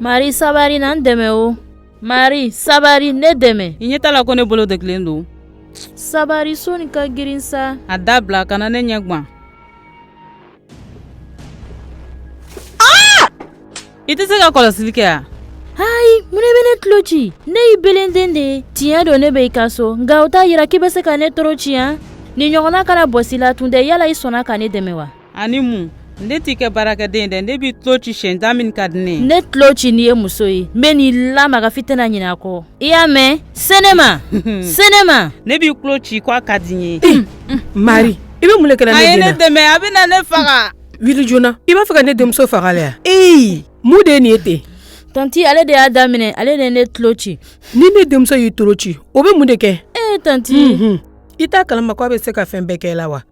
Mari sabari na n dɛmɛ o mari sabari ne dɛmɛ i ɲɛ t'a la ko ne bolo dɛgulen don sabari so nin ka girin sa a dabila kana ne ɲɛgwan i tɛ se ka kɔlɔsili kɛ yan hayi mun e bɛ ne tulo ci ne y'i belenden de ye tiɲɛ don ne bɛ i ka so nka o t'a yira k'i bɛ se ka ne tɔɔrɔ ciya nin ɲɔgɔn na kana bɔsi la tun dɛ yala i sɔnna ka ne dɛmɛ wa ani mun ne t'i ka baarakɛden dɛ ne b'i tulo ci siɲɛ da min ka di ne ye ne tulo ci n'i ye muso ye n bɛn'i lamaga f'i tɛna ɲinɛ a kɔ i y'a mɛn senema senema ne b'i tulo ci ko a ka di n ye mari i bɛ mun de kɛ la ne den na a ye ne dɛmɛ a bɛna ne faga wuli joona i b'a fɛ ka ne denmuso faga la yan eyi mun de ye nin ye ten tanti ale de y'a daminɛ ale de ye ne tulo ci ni ne denmuso y'i tulo ci o bɛ mun de kɛ ee tanti Mhm. i t'a kalama ko a bɛ se ka fɛn bɛɛ kɛ la wa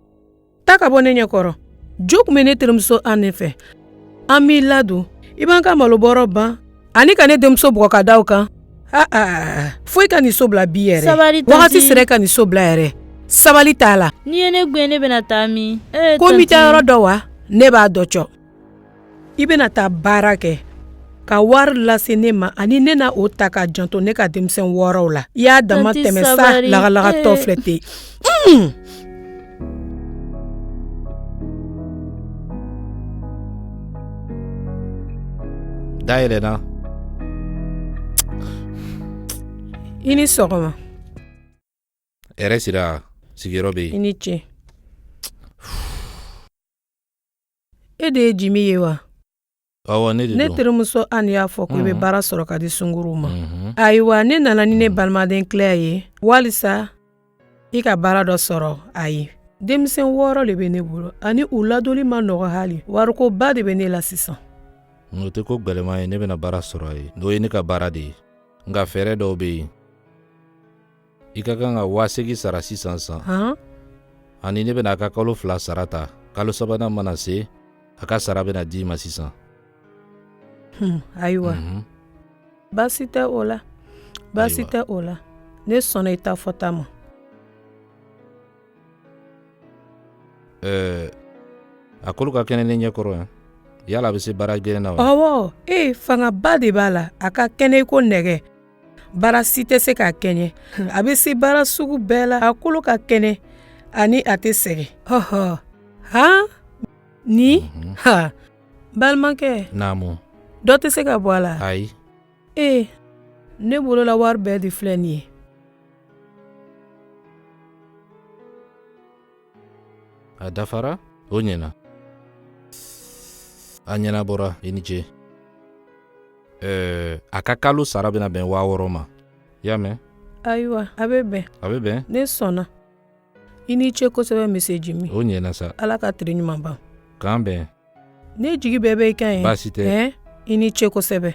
taa ka bɔ ne ɲɛ kɔrɔ jo tun bɛ ne terimuso Anne fɛ an b'i ladon i b'an ka malobɔrɔ ban ani ka ne denmuso bugɔ ka da o kan aa ah, ah, ah, fo i ka nin so bila bi yɛrɛ sabali tanti wagati sera ka nin so bila yɛrɛ sabali t'a la n'i ye ne gɛn ne bɛna taa min ee ko n b'i taayɔrɔ dɔn wa ne b'a dɔn cɔ i bɛna taa baara kɛ ka wari lase ne ma ani ne na o ta ka janto ne ka denmisɛn wɔɔrɔw la i y'a damatɛmɛ sa lagalagatɔ filɛ ten Mm. Dayɛlɛ na. I ni sɔgɔma. Hɛrɛ sira sigiyɔrɔ bɛ yen. I ni ce. E de ye Jimi ye wa? ne terimuso Anne y'a fɔ ko i bɛ baara sɔrɔ ka di sunguruw ma ayiwa ne nana ni ne balimaden Claire ye walisa i ka baara dɔ sɔrɔ a ye denmisɛn wɔɔrɔ de bɛ ne bolo ani u ladonli ma nɔgɔ hali warikoba de bɛ ne la sisan o tɛ ko gɛlɛman ye ne bɛna baara sɔrɔ a ye o ye ne ka baara de ye nka fɛɛrɛ dɔw bɛ yen i ka kan ka waa seegi sara sisan san ani ne bɛna a ka kalo fila sara ta kalo sabanan mana se a ka sara bɛna di i ma sisan hmm, ayiwa mhm. baasi tɛ o la baasi tɛ o la ne sɔnna i ta fɔta ma eh, a kolo ka kɛnɛ ne ɲɛ kɔrɔ yan yala a bɛ se baara gɛlɛn na wa ɔwɔ ee fangaba de b'a la a ka kɛnɛ i ko nɛgɛ baara si tɛ se k'a kɛɲɛ a bɛ se baara sugu bɛɛ la a kolo ka kɛnɛ ani a tɛ sɛgɛn ɔhɔ han ni mhm. ha balimakɛ naamu dɔ tɛ se ka bɔ a la ayi ee eh, ne bolola wari bɛɛ de filɛ nin ye A dafara o ɲɛna a ɲɛnabɔra i ni ce ɛɛ a ka kalo sara bɛna bɛn waa wɔɔrɔ ma i y'a mɛn ayiwa a bɛ bɛn a bɛ bɛn ne sɔnna i ni ce kosɛbɛ mise jimi o ɲɛna sa ala ka tere ɲuman ban k'an bɛn ne jigi bɛɛ bɛ i kan ye baasi tɛ ɛɛ i ni ce kosɛbɛ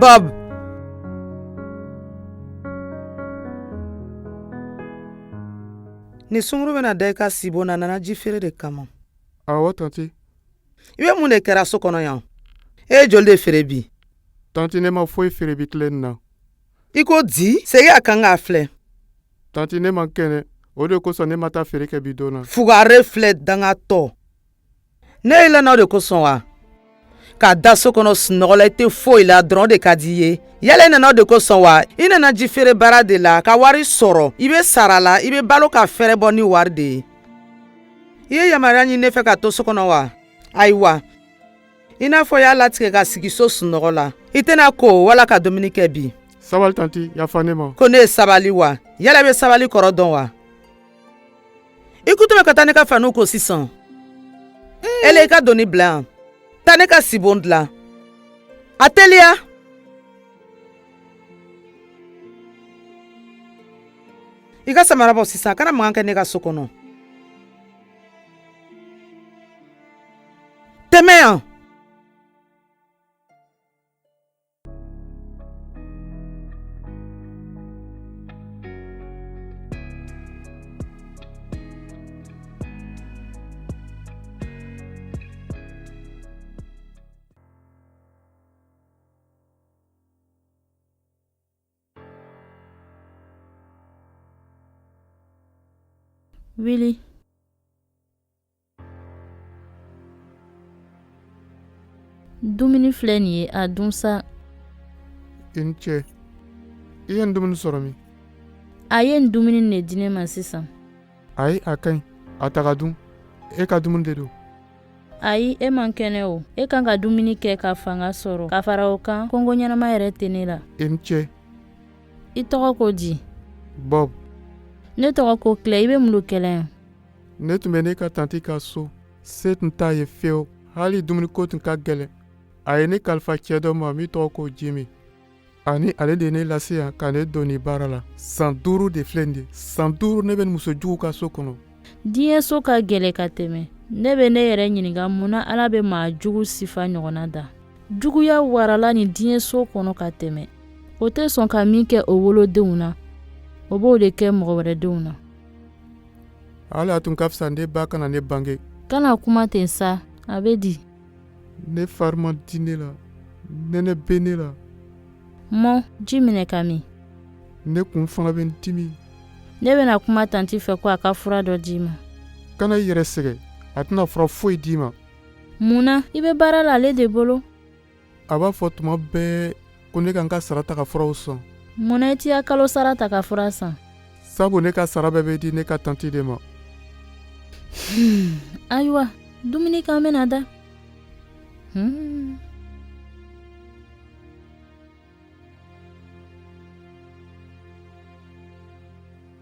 Bob! Nin sunguru bɛna da i ka sibon na nana ji feere de kama. Awɔ, tante. i bɛ mun de kɛra so kɔnɔ yan e ye joli de feere bi tanti ne ma foyi feere bi tile nin na i ko di segin a kan k'a filɛ tanti ne man kɛnɛ o de kosɔn ne ma taa feere kɛ bi don na fugare filɛ dangatɔ ne y'i lana o de kosɔn wa ka da so kɔnɔ sunɔgɔ la i tɛ foyi la dɔrɔn o de ka di i ye yala i nana o de kosɔn wa i nana ji feere baara de la ka wari sɔrɔ i bɛ sara la i bɛ balo ka fɛɛrɛ bɔ ni wari de ye i ye yamaruya ɲini ne fɛ ka to so kɔnɔ wa ayiwa i n'a fɔ y'a latigɛ ka sigi so sunɔgɔ la i tɛna ko wala ka dumuni kɛ bi sabali tanti yafa ne ma ko ne ye sabali wa yala i bɛ sabali kɔrɔ dɔn wa i kutu bɛ ka taa ne ka faniw ko sisan mm. ele i ka doni bila yan taa ne ka sibon dilan a teliya i ka samara bɔ sisan a kana mankan kɛ ne ka so kɔnɔ tɛmɛ yan Willy. Dumuni filɛ nin ye a dun sa. I ni ce. I ye nin dumuni sɔrɔ min? A ye nin dumuni de di ne ma sisan. Ayi, a ka ɲi. A ta k'a dun. E ka dumuni de don. ayi e man kɛnɛ o e kan ka dumuni kɛ ka fanga sɔrɔ ka fara o kan kɔngɔ ɲɛnama yɛrɛ tɛ ne la i ni ce i tɔgɔ ko di bɔb ne tɔgɔ ko kilɛ i bɛ mun lo kɛ la yan ne tun bɛ ne ka tanti ka so se tun t'a ye fewu hali dumuniko tun ka gɛlɛn a ye ne kalifa cɛ dɔ ma min tɔgɔ ko jimi ani ale de ye ne lase yan ka ne don nin baara la san duuru de filɛ nin ye san duuru ne bɛ nin muso jugu ka so kɔnɔ diɲɛ so ka gɛlɛ ka tɛmɛ ne bɛ ne yɛrɛ ɲininka mun na ala bɛ maa jugu sifa ɲɔgɔnna da juguya warala nin diɲɛ so kɔnɔ ka tɛmɛ o tɛ sɔn ka min kɛ o wolodenw na o b'o de kɛ mɔgɔ wɛrɛ denw na ala a tun ka fisa ne ba kana ne bange kana kuma ten sa a bɛ di Ne fari ma di ne la nɛnɛ bɛ ne la mɔ ji minɛ ka min ne kun fana bɛ n dimi ne bɛna kuma tanti fɛ ko a ka fura dɔ d'i ma kana i yɛrɛ sɛgɛ a tɛna fura foyi d'i ma mun na i bɛ baara la ale de bolo a b'a fɔ tuma bɛɛ ko ne ka n ka sara ta ka furaw san mun na i t'i ka kalo sara ta ka fura san sabu ne ka sara bɛɛ bɛ di ne ka tanti de ma hmm, ayiwa dumuni kɛ an bɛna da hmm.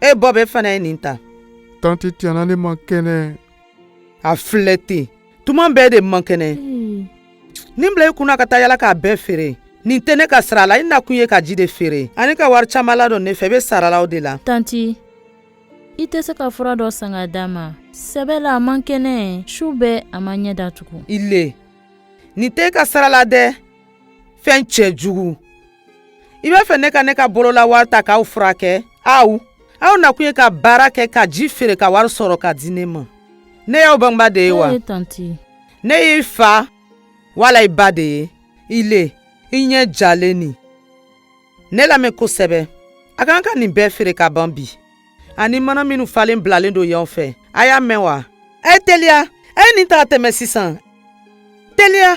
e bɔ e fana ye nin ta tanti tiɲɛ na ne man kɛnɛ a filɛ ten tuma bɛɛ e de man kɛnɛ hmm. nin bila i kunna ka taa yala k'a bɛɛ feere nin tɛ ne ka sira la i nakun ye ka ji de feere ani ka wari caman ladon ne fɛ i bɛ sara la o de la tanti i tɛ se ka fura dɔ san ka d'a ma sɛbɛ la a man kɛnɛ su bɛɛ a ma ɲɛ datugu i le nin tɛ e ka sira la dɛ fɛn cɛjugu i b'a fɛ ne ka ne ka bolola wari ta k'aw furakɛ aw aw nakun ye ka baara kɛ ka ji feere ka wari sɔrɔ ka di ne ma ne y'aw bangeba de ye wa ne y'i fa wala i ba de ye i le i ɲɛ jalen nin ne lamɛn kosɛbɛ a kan ka nin bɛɛ feere ka ban bi ani mana minnu falen bilalen don yan fɛ a y'a mɛn wa a ye teliya a ye nin ta ka tɛmɛ sisan teliya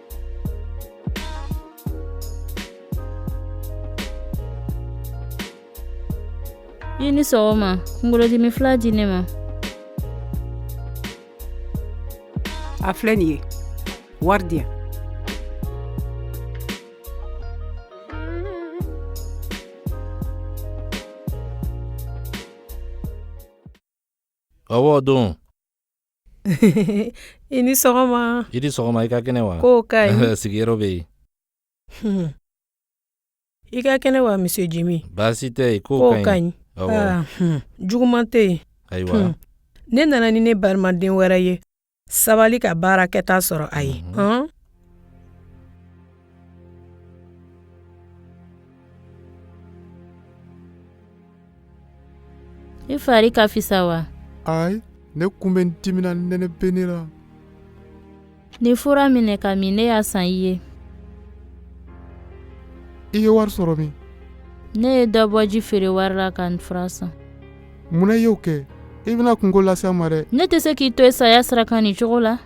i ni sɔgɔma kunkolodimi fila di ne ma a filɛ nin ye wari di yan ɔwɔ don i ni sɔgɔma i ni sɔgɔma i ka kɛnɛ wa ko ka ɲi sigiyɔrɔ bɛ yen hmm. i ka kɛnɛ wa monsieur jimi baasi tɛ yen ko ka ɲi ah, hmm. juguman tɛ yen ayiwa hmm. ne nana ni ne balimaden wɛrɛ ye sabali ka baara kɛta sɔrɔ a ye i fari ka fisa wa ayi ne kun bɛ n dimina nɛnɛ bɛ ne la nin fura minɛ k'a min ne y'a san i ye i ye wari sɔrɔ min ne ye dɔ bɔ ji feere wari la ka fura san mun na i y'o kɛ i bɛna kunko lase an ma dɛ ne tɛ se k'i to i saya sira kan nin cogo la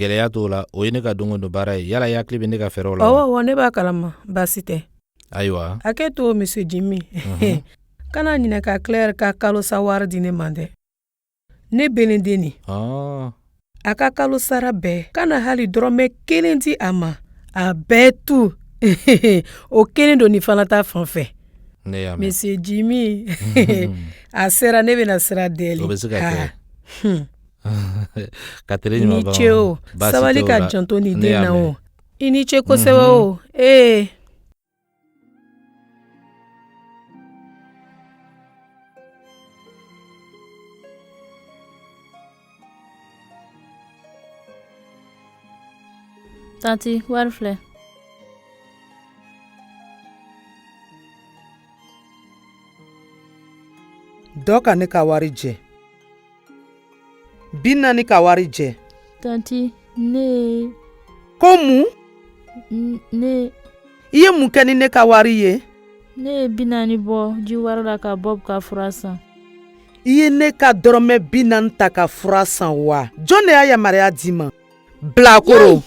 gɛlɛya t'o la o ye ne ka don o don baara ye yala i hakili bɛ ne ka fɛɛrɛw la wa ne b'a kalama baasi tɛ ayiwa hakɛto monsieur jimi mhm. kana ɲinɛ ka claire ka kalo sa wari di ne ma dɛ ne belenden nin ah. a ka kalo sara bɛɛ kana hali dɔrɔmɛ kelen di a ma a bɛɛ tu o kelen don nin fana ta fan fɛ monsieur jimi a sera ne bɛna sira deli i ni ce o sabali ka janto ne den na o i ni ce kosɛbɛ o ee Tanti, wari filɛ. Dɔ ka ne ka wari jɛ. bi naani ka wari jɛ tanti ne ko mun ne i ye mun kɛ ni ne ka wari ye ne ye bi naani bɔ ji wari la ka bɔ ka fura san i ye ne ka dɔrɔmɛ bi naani ta ka fura san wa jɔn de y'a yamaruya d'i ma bilakoro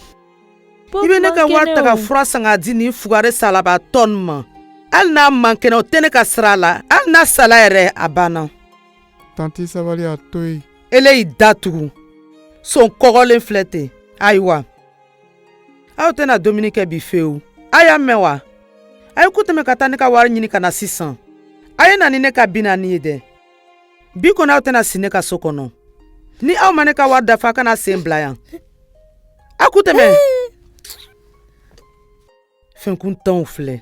i bɛ ne ka wari ta ka fura san ka di nin fugari salabaatɔ nin ma hali n'a man kɛnɛ o tɛ ne ka sira la hali n'a sala yɛrɛ a banna tanti sabali a to yen ele y'i da tugu son kɔgɔlen filɛ ten ayiwa aw tɛna dumuni kɛ bi fewu a y'a mɛn wa a ye ku tɛmɛ ka taa ne ka wari ɲini ka na sisan a ye na ni ne ka bi naani ye dɛ bi kɔni aw tɛna si ne ka so kɔnɔ ni aw ma ne ka wari dafa a kana sen bila yan a ku tɛmɛ fɛnkuntanw filɛ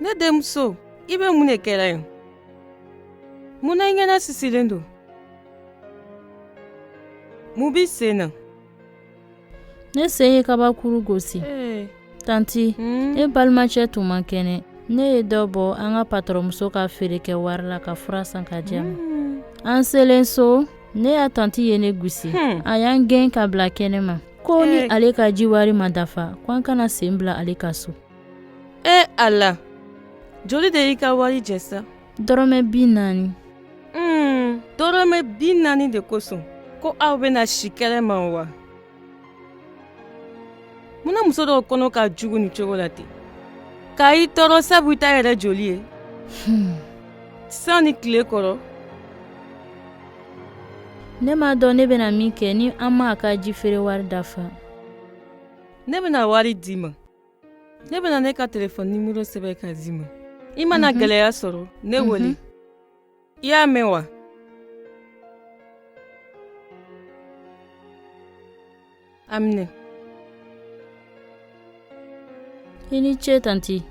ne denmuso i bɛ mun de kɛla yen mun na i ɲɛnasisilen don mun b'i sen na ne sen ye kabakuru gosi eh. tanti hmm? e balimacɛ tun man kɛnɛ ne ye dɔ bɔ an ka patɔrɔnmuso ka feere kɛ wari la ka fura san ka di a ma hmm. an selen so ne ka tanti ye ne gosi hmm. a y'an gɛn ka bila kɛnɛ ma ko ni eh. ale ka ji wari ma dafa ko an kana sen bila ale ka so e eh, ala joli de y'i ka wari jɛ sa dɔrɔmɛ bi naani un dɔrɔmɛ bi naani de kosɔn ko aw bɛna si kɛnɛ ma wa munna muso dɔw kɔnɔ ka jugu nin cogo la ten ka i tɔɔrɔ sabu i t'a yɛrɛ joli ye hmm. san ni tile kɔrɔ ne m'a dɔn ne bɛna min kɛ ni an m'a ka ji feere wari dafa ne bɛna wari d'i ma ne bɛna ne ka telefɔni nimero sɛbɛn ka d'i ma i mana mhm. gɛlɛya sɔrɔ ne mhm. wele i y'a mɛn wa a minɛ i ni ce tanti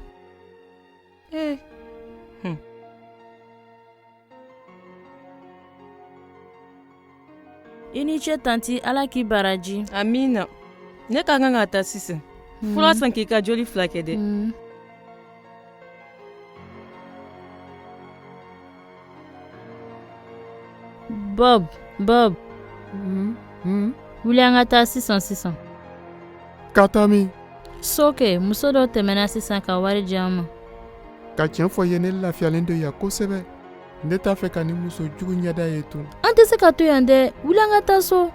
ee eh. i ni ce tanti ala k'i baraji amina ne ka kan ka taa sisan hmm. fura san k'i ka joli furakɛ dɛ hmm. bob bob hmm. wuli an ka taa sisan sisan ka taa min so kɛ muso dɔ tɛmɛna sisan ka wari di an ma ka tiɲɛ fɔ i ye ne lafiyalen don yan kosɛbɛ ne t'a fɛ ka nin muso jugu ɲɛda ye tun an tɛ se ka to yan dɛ wuli an ka taa so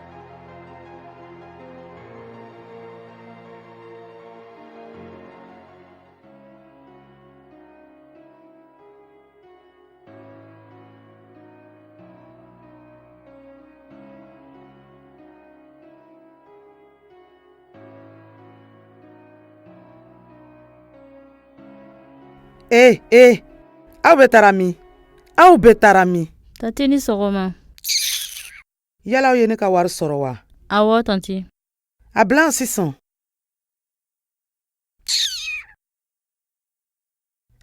ee ee aw bɛ taara min aw bɛ taara min Tanti i ni sɔgɔma. yala aw ye ne ka wari sɔrɔ wa Awɔ tanti. a bila yan sisan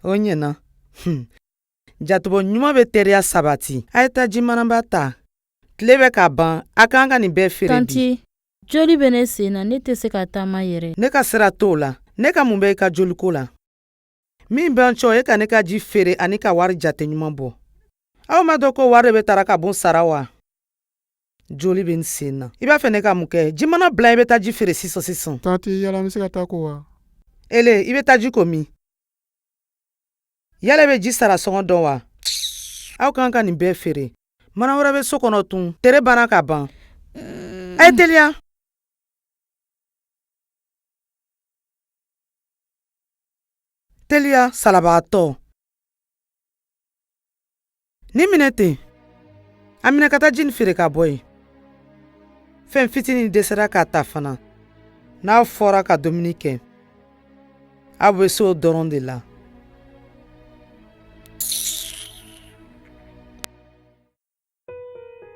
o ɲɛna Hmm. jatebɔ ɲuman bɛ teriya sabati a ye taa ji manaba ta tile bɛ ka ban a kan ka nin bɛɛ feere tanti joli bɛ ne sen na ne tɛ se ka taama yɛrɛ ne ka sira t'o la ne ka mun bɛ i ka joliko la min bɛ n cɔ e ka ne ka ji feere ani ka wari jate ɲuman bɔ aw m'a dɔn ko wari de bɛ tara ka bon sara wa joli bɛ n sen na i b'a fɛ ne ka mun kɛ ji mana bila i bɛ taa ji feere sisan sisan tanti yala n bɛ se ka taa ko wa ele i bɛ taa i ko min yala e bɛ ji sara sɔngɔ dɔn wa aw kan ka nin bɛɛ feere mana wɛrɛ bɛ so kɔnɔ tun tere banna ka ban a ye teliya teliya salabaatɔ Nin minɛ ten a minɛ ka taa ji nin feere ka bɔ yen fɛn fitinin dɛsɛra k'a ta fana n'a fɔra ka dumuni kɛ aw bɛ se o dɔrɔn de la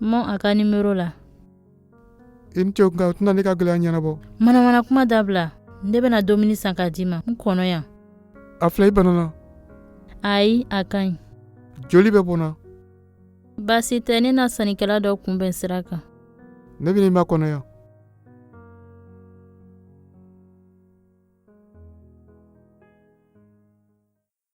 mɔ a ka nimero la i ni ce nka o tɛna ne ka gɛlɛya ɲɛnabɔ manamana kuma dabila ne bɛna dumuni san k'a d'i ma n kɔnɔ yan a filɛ i banana ayi a ka ɲi joli bɛ bɔnna baasi tɛ ne na sannikɛla dɔ kunbɛn sira kan ne bɛn'i makɔnɔ yan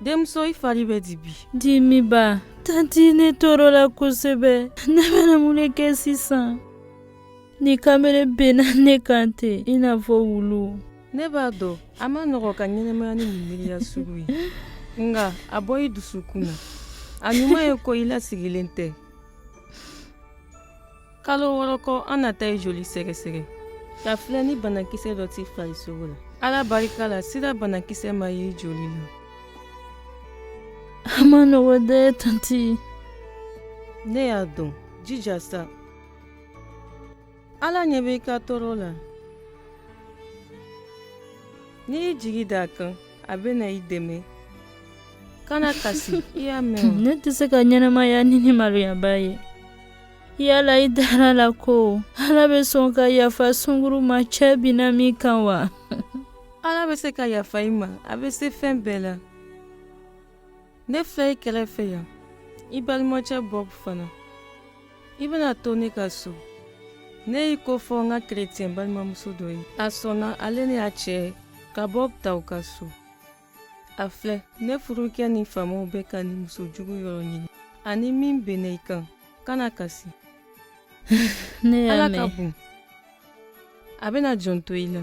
denmuso i fari bɛ di bi dimiba tanti ne tɔɔrɔla kosɛbɛ ne bɛna mun de kɛ sisan nin kamalen binna ne kan ten i n'a fɔ wulu ne b'a dɔn a man nɔgɔ ka ɲɛnamaya ni nin miiriya sugu ye nka a bɔ i dusukun na a ɲuman ye ko i lasirilen tɛ kalo wɔɔrɔ kɔ an na taa i joli sɛgɛsɛgɛ k'a filɛ ni banakisɛ dɔ t'i farisogo la ala barika la sida banakisɛ ma ye i joli la a man nɔgɔ dɛ tanti ne y'a dɔn jija sa ala ɲɛ bɛ i ka tɔɔrɔ la n'i y'i jigi d'a kan a bɛna i dɛmɛ kana kasi i y'a mɛn ne tɛ se ka ɲɛnamaya ni nin maloyaba ye yala i dara la ko ala bɛ sɔn ka yafa sunguru ma cɛ binna min kan wa ala bɛ se ka yafa i ma a bɛ se fɛn bɛɛ la ne filɛ i kɛrɛfɛ yan i balimacɛ bob fana i bɛna to ne ka so ne y'i ko fɔ n ka kerecɛn balimamuso dɔ ye a sɔnna ale ni a cɛ ka bob ta u ka so a filɛ ne furucɛ ni faamaw bɛ ka nin muso jugu yɔrɔ ɲini ani min bɛnna i kan kana kasi ne ala ka bon a bɛna jɔn to i la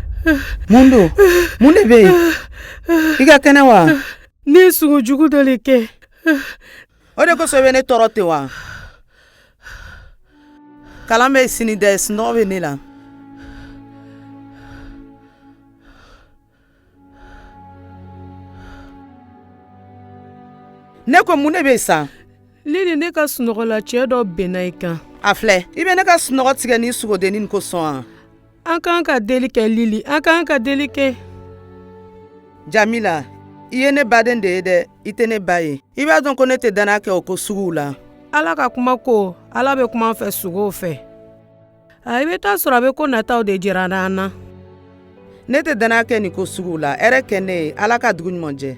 mun don mun de bɛ yen i ka kɛnɛ wa ne ye sugo jugu dɔ de kɛ o de kosɔn i bɛ ne tɔɔrɔ ten wa kalan bɛ sini dɛ sunɔgɔ bɛ ne la ne ko mun de bɛ yen sa lili ne ka sunɔgɔ la cɛ dɔ bɛnna i kan a filɛ i bɛ ne ka sunɔgɔ tigɛ ni sugodennin kosɔn wa an k'an ka deli kɛ lili an k'an ka deli kɛ jamila i ye ne baden de ye dɛ i tɛ ne ba ye i b'a dɔn ko ne tɛ dannaya kɛ o ko suguw la ala ka kuma ko ala bɛ kuma an fɛ sugow fɛ a i bɛ t'a sɔrɔ a bɛ ko nataw de jira an na ne tɛ dannaya kɛ nin ko suguw la hɛrɛ kɛ ne ye ala ka dugu ɲuman jɛ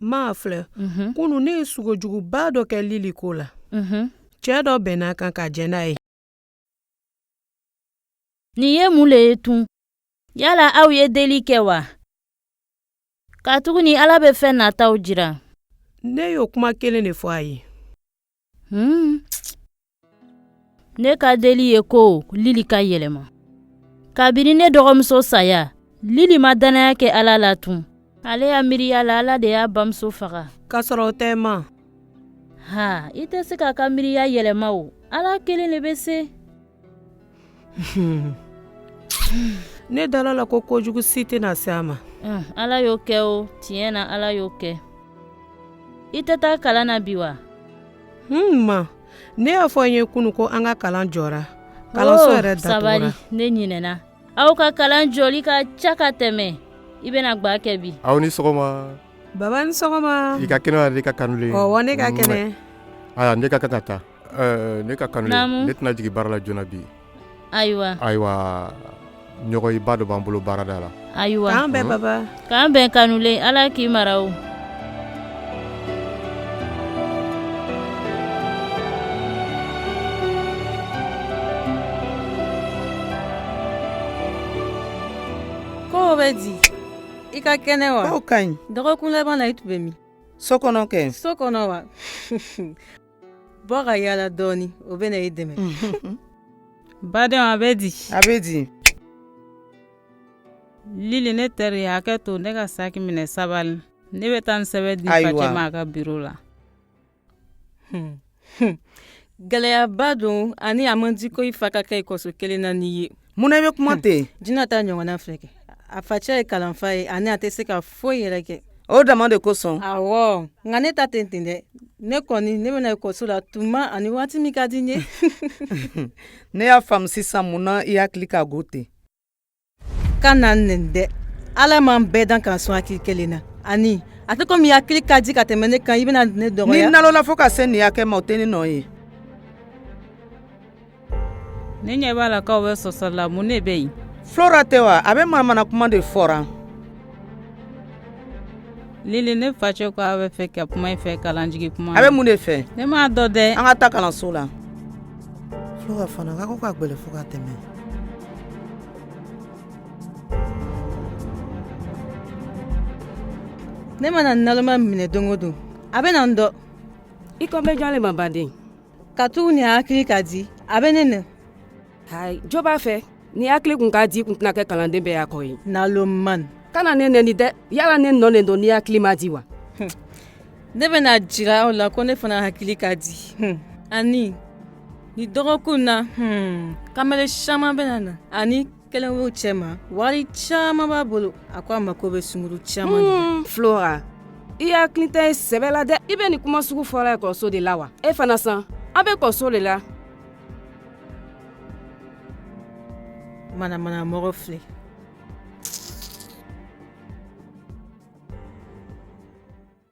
ma a filɛ mhm. kunu ne ye sugo juguba dɔ kɛ lili ko la mhm. cɛɛ dɔ bɛnna a kan ka jɛn n'a ye nin ye mun le ye tun yala aw ye deli kɛ wa katuguni ala bɛ fɛn nataw jira ne y'o kuma kelen de fɔ a ye Hmm. Ne ka deli ye ko Lili ka yɛlɛma. Kabini ne dɔgɔmuso saya, Lili ma dannaya kɛ Ala la tun. Ale ya miiriya la Ala de y'a bamuso faga. K'a sɔrɔ o tɛ ma. Ha, i tɛ se k'a ka miiriya yɛlɛma o. Ala kelen de bɛ se. ne dala a la ko kojugu si tɛna se a ma ala y'o kɛ o tiɲɛ na ala y'o kɛ i tɛ taa kalan na bi wa ma ne y'a fɔ i ye kunu ko an ka kalan jɔra kalanso oh, yɛrɛ sabali ne ɲinɛna aw ka kalan jɔli ka ca ka tɛmɛ i bɛna gba kɛ bi aw ni sɔgɔma baba ni sɔgɔma i ka kɛnɛ i ka kanulen ɔwɔ ne ka kɛnɛ ayiwa ne ka ka taa Ne ka kanu ne tɛna jigin baara la joona bi ayiwa ayiwa ɲɔgɔnyeba dɔ b'an bolo baarada la ayiwa k'an bɛn baba k'an bɛn kanu ala k'i mara o ko bɛ di i ka kɛnɛ wa ka ɲi dɔgɔkun laban i tun bɛ min so kɔnɔ kɛ so kɔnɔ wa bɔ ka yaala dɔɔni o bɛna i dɛmɛ baden a bɛ di a bɛ di lili ne teri hakɛ to ne ka saki minɛ sabali ne bɛ taa n sɛbɛn di facɛ ma a ka biro la hmm. Hmm. gɛlɛyaba don ani a man di ko i fa ka kɛ ekɔliso kelen na n'i ye Mun na i bɛ kuma ten jinɛ ta ɲɔgɔn filɛ kɛ a facɛ ye kalanfa ye ani a tɛ se ka foyi yɛrɛ kɛ o dama de kosɔn nka ne ta tɛ ten dɛ ne kɔni ne bɛ na ekɔliso la tuma ani waati min ka di n ye ne y'a faamu sisan mun na i hakili ka go ten kana n neni dɛ ala ma bɛɛ dan ka sɔn hakili kelen na ani a tɛ komi i hakili ka di ka tɛmɛ ne kan i bɛna ne dɔgɔ nalonna fo ka se nin hakɛ ma o tɛ ne nɔ ye ne ɲɛ b'a la k'aw bɛ sɔsɔla mun ne bɛ yen flora tɛ wa a bɛ manamana kuma de fɔra lili ne facɛ ko a b'a fɛ ka kuma i fɛ kalan jigin tuma a bɛ mun de fɛ ne m'a dɔn dɛ an ka taa kalanso la flora fana ka ko ka gbɛlɛ fo ka tɛmɛ ne mana naloma minɛ don o don a bɛna n dɔn i kan bɛ jɔn le ma baden katuguni a hakili ka di a bɛ ne neni jo b'a fɛ n'i hakili tun ka di i tun tɛna kɛ kalanden bɛɛ ya kɔ ye nalonman kana ne neni dɛ yala ne nɔ ne don n'i hakili man di wa ne bɛna a jira aw la ko ne fana hakili ka di ani nin dɔgɔkun na kamalen caman bɛ na ani kelen b'u cɛma wari caman b'a bolo a ko a mako bɛ sunguru caman de la. Hmm, flora i hakili tɛ sɛbɛ la dɛ i bɛ nin kuma sugu fɔra ekɔliso de la wa e fana sa an bɛ ekɔliso de la manamana mɔgɔ filɛ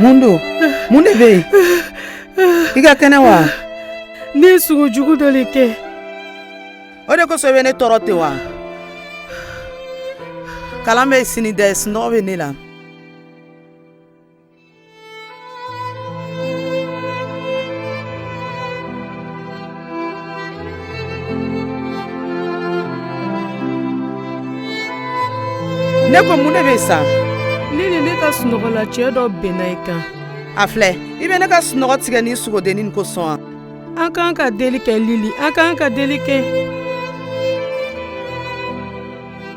mun don mun de bɛ yen i ka kɛnɛ wa ne ye sugo jugu dɔ de kɛ o de kosɔn i bɛ ne tɔɔrɔ ten wa kalan bɛ sini dɛ sunɔgɔ bɛ ne la ne ko mun de bɛ yen sa lili ne ka sunɔgɔ la cɛ dɔ binna i kan a filɛ i bɛ ne ka sunɔgɔ tigɛ nin sugodennin kosɔn wa an k'an ka deli kɛ lili an k'an ka deli kɛ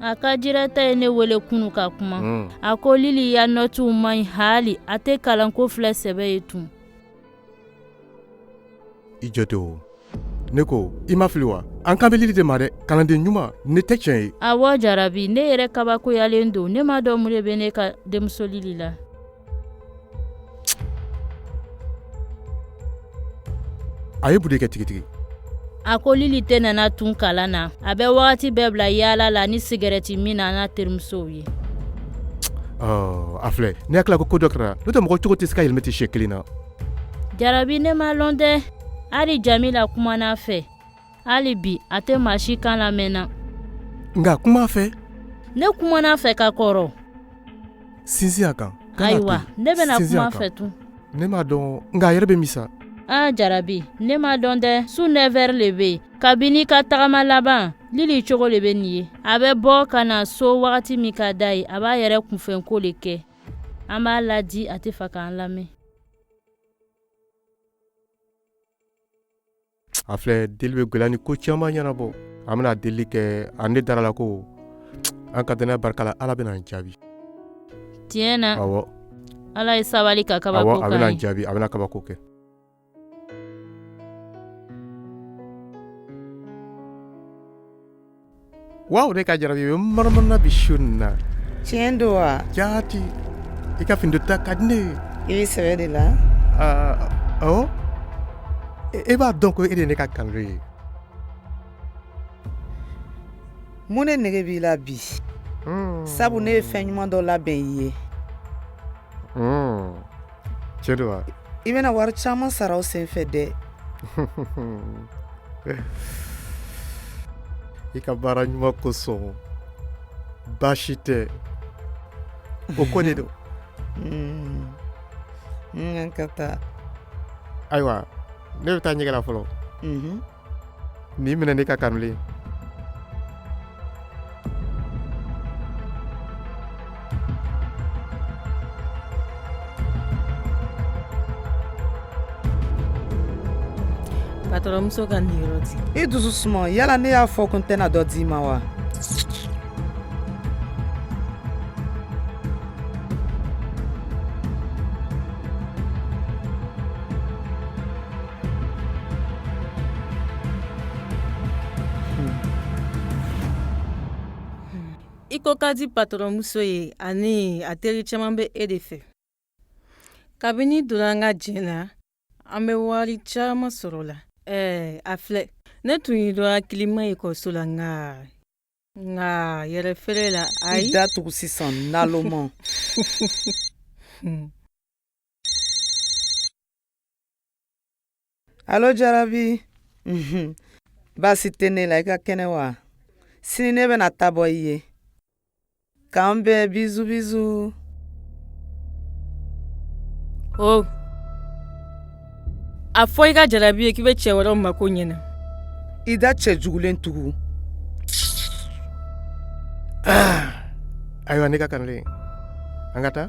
a ka jirata ye ne wele kunu ka kuma hmm. a ko lili ya nɔtiw man ɲi hali a tɛ kalanko filɛ sɛbɛ ye tun i jɔ ten o ne ko i ma fili wa an kan bɛ lili de ma dɛ kalanden ɲuman nin tɛ tiɲɛ ye awɔ jarabi ne yɛrɛ kabakoyalen don ne m'a dɔn mun de bɛ ne ka denmuso lili la a ye mun de kɛ tigitigi a ko lili tɛ nana tun kalan na a bɛ wagati bɛɛ bila yaala la ni sigarɛti min na n'a terimusow ye a filɛ ne hakili la ko ko dɔ kɛra n'o tɛ mɔgɔ cogo tɛ se ka yɛlɛmɛ ten siɲɛ kelen na jarabi ne m'a lɔn dɛ hali jamila kumana a fɛ hali bi a tɛ maa si kan lamɛnna nka kuma a fɛ ne kumana a fɛ ka kɔrɔ sinsin a kan ayiwa ne bɛna kuma a fɛ tun ne m'a dɔn nka a yɛrɛ bɛ min sa a jarabi ne m'a dɔn dɛ su nɛfɛri le bɛ yen kabini a ka tagama laban lili cogo le bɛ nin ye a bɛ bɔ ka na so wagati min ka d'a ye a b'a yɛrɛ kunfɛnko le kɛ an b'a ladi a t'a fɛ k'an lamɛn a filɛ deli bɛ gɛlɛya ni ko caman ɲɛnabɔ an bɛna deli kɛ ani ne dara a la ko an ka dannaya barika la ala bɛna an jaabi tiɲɛ na ala ye sabali ka kaba a bɛna jaabi a bɛna kabako kɛ Waw ne ka jarabi manamanana bi su na tiɲɛ don wa jati i ka fini donta ka di ne ye i sɛbɛ de la ɔ e b'a dɔn ko e de ne ka kanulen ye mun ne nege b'i la bi sabu ne ye fɛn ɲuman dɔ labɛn i ye tiɲɛ don wa i bɛna wari caman sara o senfɛ dɛ i ka baara ɲuman kosɔn baasi tɛ o ko de don hmm. an ka taa ayiwa ne bɛ taa ɲɛgɛn la fɔlɔ mhm. nin minɛ ne ka kanulen patɔrɔnmuso ka niyɔrɔ di i dusu suma yala ne y'a fɔ ko n tɛna dɔ d'i ma wa i ko ka di patɔrɔnmuso ye ani a teri caman bɛ e de fɛ kabini i donna an ka jɛn na an bɛ wari caman sɔrɔ la ɛɛ a filɛ ne tun ye dɔ hakilima ye kɔso la nka nka yɛrɛfeerela ayi i da tugu sisan naloma alo jarabi baasi tɛ ne la i ka kɛnɛ wa sini ne bɛna taa bɔ i ye k'an bɛn bizu bizu o oh. a fɔ i ka jarabi ye k'i bɛ cɛ wɛrɛw mako ɲɛna i da cɛjugulen tugu ah. ayiwa ne ka kamalen an ka taa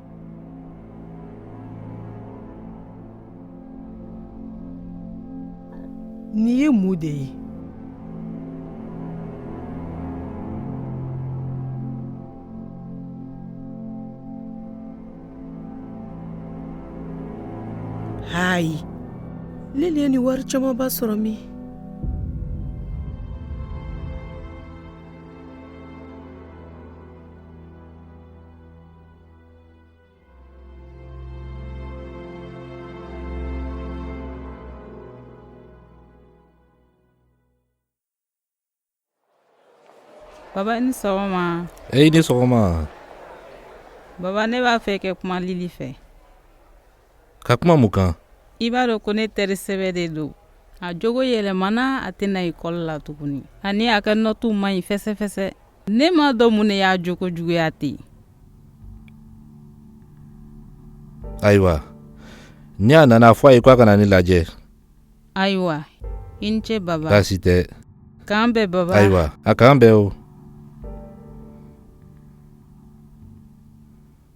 Nin ye mun de ye ayi Lili ye nin wari camanba sɔrɔ min Baba i ni sɔgɔma. E i ni sɔgɔma. Baba ne b'a fɛ ka kuma Lili fɛ. ka kuma mun kan i b'a dɔn ko ne teri sɛbɛ de don a jogo yɛlɛmana a tɛ na ekɔli la tuguni ani a ka nɔtuw man ɲi fɛsɛfɛsɛ ne m'a dɔn mun ne y'a jogo juguya ten ayiwa ni a nana a fɔ a ye ko a ka na ne lajɛ ayiwa i ni ce baba baasi tɛ k'an bɛn baba ayiwa a k'an bɛn o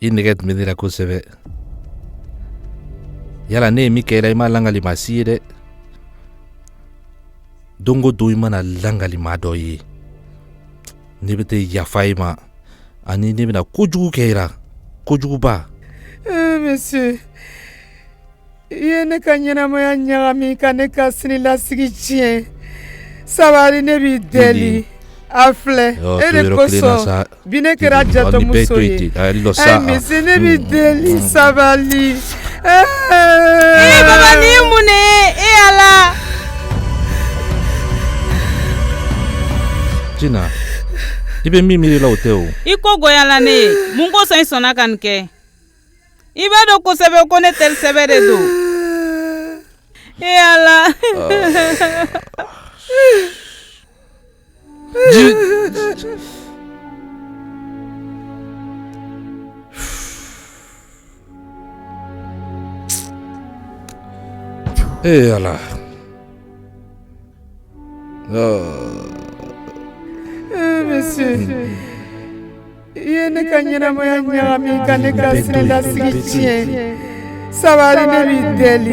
i nɛgɛ tun bɛ ne la kosɛbɛ yala ne ye min kɛ i la i m'a lakali maa si ye dɛ don o don i mana a lakali maa dɔ ye ne bɛ tɛ yafa i ma ani ne bɛna kojugu kɛ i la kojuguba. Eh, monsieur. i ye ne ka ɲɛnamaya ɲagami ka ne ka sinilasigi tiɲɛ sabali ne b'i deli a filɛ e de kosɔn bi ne kɛra jatɔmuso ye monsieur ne b'i deli sabali baba nin ye mun ne ye yala tina i bɛ min miiri la o tɛ o i ko gɔyala ne ye mun kosɔn i sɔnna ka nin kɛ i b'a dɔn kosɛbɛ ko ne teri sɛbɛ de don e ala e ala I ye ne ka ɲɛnamaya ɲagami ka ne ka siniɲɛsigi tiɲɛ sabari ne b'i deli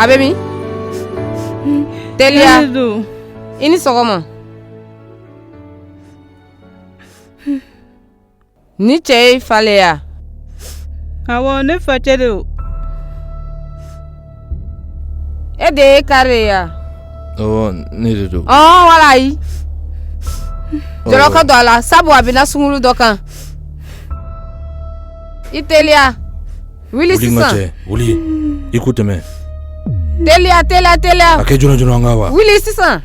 A bɛ min teliya don i ni sɔgɔma ni cɛ y'i fa ye wa awɔ ne facɛ de e de ye kari ye wa ne de don wala a ye jɔlɔkɔ don a la sabu a binna sungurun dɔ kan i teliya wuli sisan wuli i ko tɛmɛ teliya teliya teliya a kɛ joona joona an ka wa wuli sisan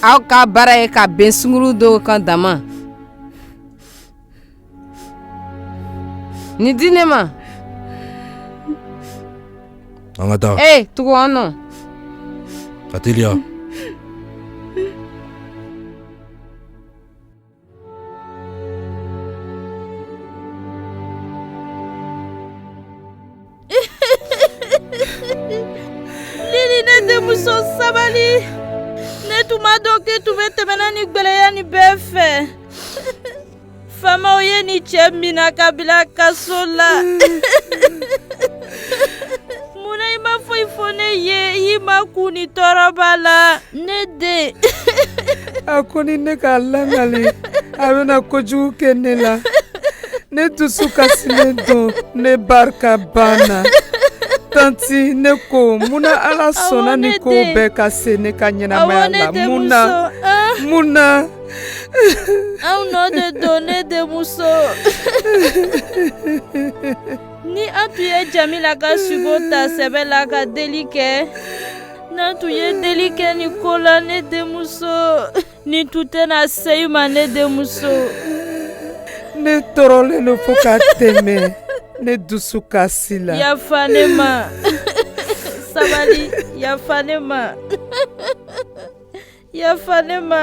aw ka baara ye ka bin sungurun dɔw kan dama Ni di ne ma an ka taa ee tugu an nɔ ka teliya Lili ne denmuso sabali ne tun ma dɔn k'i tun bɛ tɛmɛna ni gɛlɛya ni bɛɛ fɛ faamaw ye ni cɛ mina k'a bila kaso la munna i ma foyi fɔ ne ye i makun ni tɔɔrɔba la ne den a ko ni ne k'a lakali a bɛna kojugu kɛ ne la ne dusukasilen don ne barika banna tanti ne ko munna ala sɔnna ni ko bɛɛ ka se ne ka ɲɛnamaya la mun na mun na anw nɔ de don ne denmuso ni an tun ye jamila ka sugo ta sɛbɛ la ka deli kɛ n'an tun ye deli kɛ ni ko la ne denmuso Ne tun tɛna se i ma ne denmuso ne tɔɔrɔlen don fo ka tɛmɛ ne dusu kasila yafa ne ma sabali yafa ne ma yafa ne ma